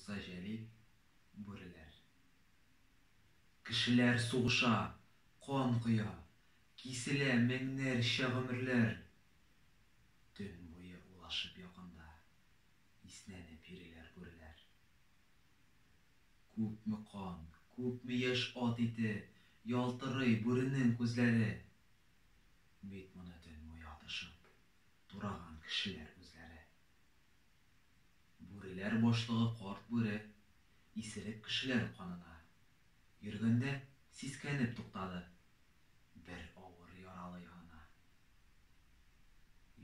Муса Җәлил, Бүреләр. Кешеләр сугыша, кан коя, киселә меңнәрчә гомерләр. Төн буе улашып якында, иснәнеп йөриләр бүреләр. Күпме кан, күпме яшь ат ите, ялтырый бүренең күзләре. Бит моны төн буе атышып, тураган кешеләр үзләре. Бүреләр башлыгы Карт Бүре исерек кешеләр канына йөргәндә сискәнеп туктады. Бер авыр яралы янына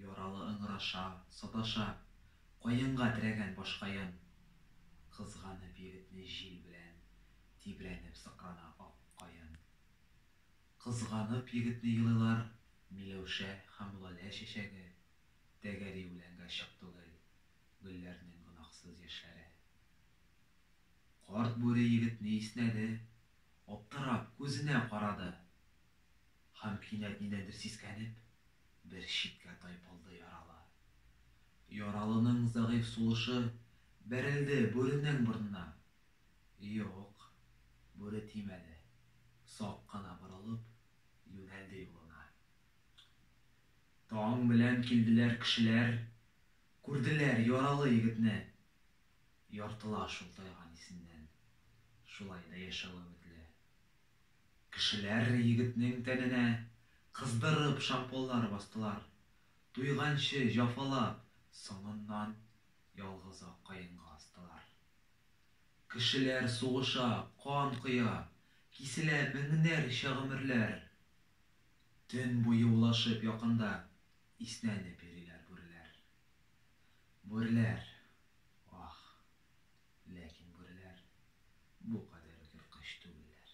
Яралы ыңгыраша, саташа, каенга терәгән башкаен, кызганып егетне җил белән тибрәнеп сыкрана Ак каен. Кызганып егетне елыйлар Миләүшә һәм Лалә чәчәге. Тәгәри белән гә чык түгел гөлләрнең гөнаһсыз яшьләре. Карт бүре егетне иснәде, аптырап, күзенә карады. Һәм кинәт нидәндер сискәнеп, бер читкә тайпылды яралы. Яралының зәгыйфь сулышы бәрелде бүренең борынына. Юк, бүре тимәде, сак кына борылып, юнәлде юлына. Таң белән килделәр кешеләр, Күрделәр яралы егетне. Яртыла шул тайган исеннән, Шулай да яшәү өметле. Кешеләр егетнең тәненә Кыздырып шампуньлар бастылар, Туйганчы җафалап, соңыннан Ялгызак каенга астылар. Кешеләр сугыша, кан коя, Киселә меңнәрчә гомерләр. Төн буе улашып якында иснәнеп йөриләр бүреләр. Бүреләр, ах! Ләкин бүреләр бу кадәр үк ерткыч түгелләр.